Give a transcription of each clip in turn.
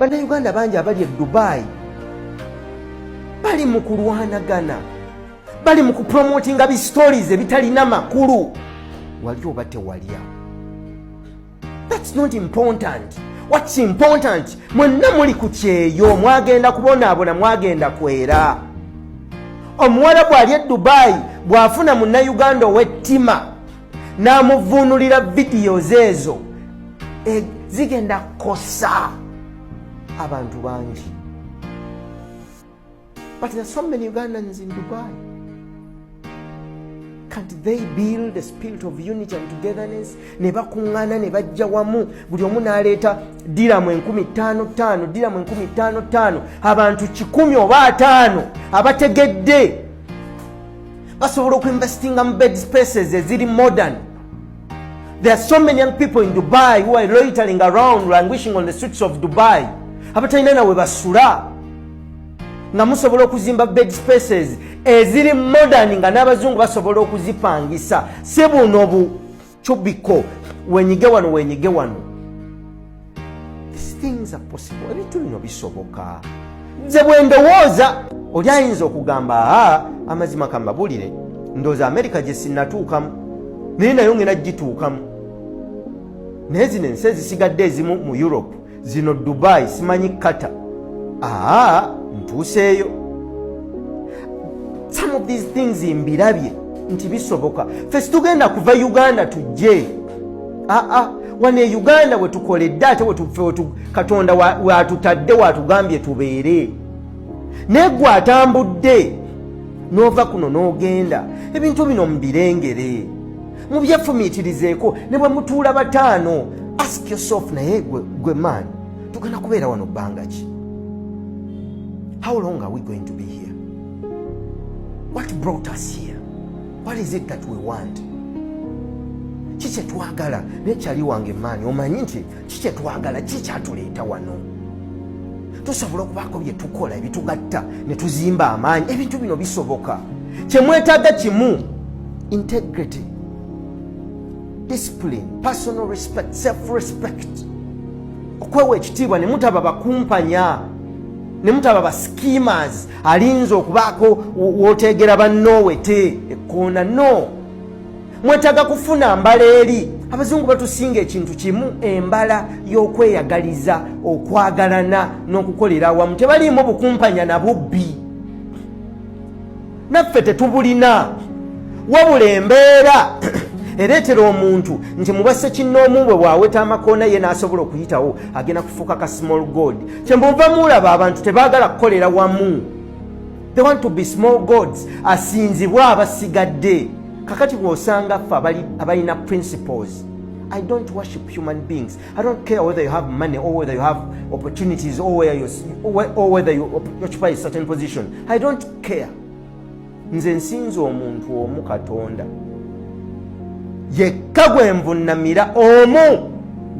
bannayuganda bangi abali e dubayi bali mu kulwanagana bali mu kupromotinga bi stories ebitalina makulu wali oba tewalya thats not important whats important mwenna muli ku kyeyo mwagenda kubonaabona mwagenda kwera omuwala bwali e dubayi bw'afuna munnayuganda ow'ettima n'amuvuunulira videos ezo e, zigenda kosa abantu bangi but there so many ugandans in dubai can't they build a spirit of unity and togetherness ne bakuŋŋaana ne bajja wamu buli omu n'aleeta diramu enkumi ttaano ttaano diramu enkumi ttaano ttaano abantu kikumi oba ataano abategedde basobola okuinvestinga mu bed spaces eziri modern there are so many young people in dubai who are loitering around languishing on the streets of dubai abatalina nawe basula nga musobola okuzimba bed spaces eziri modern nga n'abazungu basobola okuzipangisa si buno bu cubiko wenyige wano wenyige wano ebintu bino bisoboka nze bwendowooza oli ayinza okugamba aa amazima kamabulire ndooza amerika gyesinatuukamu naye nayo ngena gituukamu naye zino ensi ezisigadde ezimu mu europe zino dubai simanyi kata aa ntuuseeyo some of these things mbirabye nti bisoboka fe situgenda kuva uganda tujje aa wano e uganda wetukoledde ate katonda watutadde watugambye tubeere naye gwe atambudde n'ova kuno n'ogenda ebintu bino mubirengere mubyefumiitirizeeko ne bwe mutuula bataano ask yourself naye gwe maani tugenda kubeera wano bbanga ki how long are we going to be here what brought us here what is it that we want ki kyetwagala naye kyali wange maani omanyi nti kikyetwagala kikyatuleeta wano tusobola okubaako bye tukola ebitugatta ne tuzimba amaanyi ebintu bino bisoboka kyemwetaaga kimu integrity discipline personal respect self respect okwewa ekitiibwa ne mutaba bakumpanya ne mutaba ba schemers alinza okubaako wooteegera bannoowe te ekkoona no mwetaaga kufuna mbala eri abazungu batusinga ekintu kimu embala y'okweyagaliza okwagalana n'okukolera awamu tebaliimu bukumpanya na bubbi naffe tetubulina wabula embeera ereetera omuntu nti mubase kinnoomu bwe bwaweta amakoona ye n'asobola okuyitawo agenda kufuuka ka small god kyemuva muulaba abantu tebaagala kukolera wamu they want to be small gods asinzibwa abasigadde kakati bwosanga ffe abalina principles I don't worship human beings. I don't care whether you have money or whether you have opportunities or, where you, or whether you occupy a certain position. I don't care. Nze nsinza omuntu omu Katonda. Yekka gwe nvunnamira omu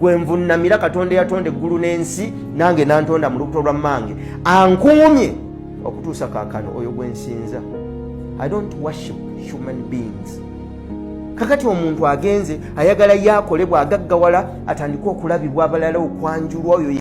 gwe nvunnamira Katonda yatonda eggulu n'ensi nange nantonda mu lubuto lwa mmange ankuumye okutuusa kakano oyo gwensinza i don't worship human beings kakati omuntu agenze ayagala yakolebwa agaggawala atandike okulabibwa abalala okwanjulwa oyo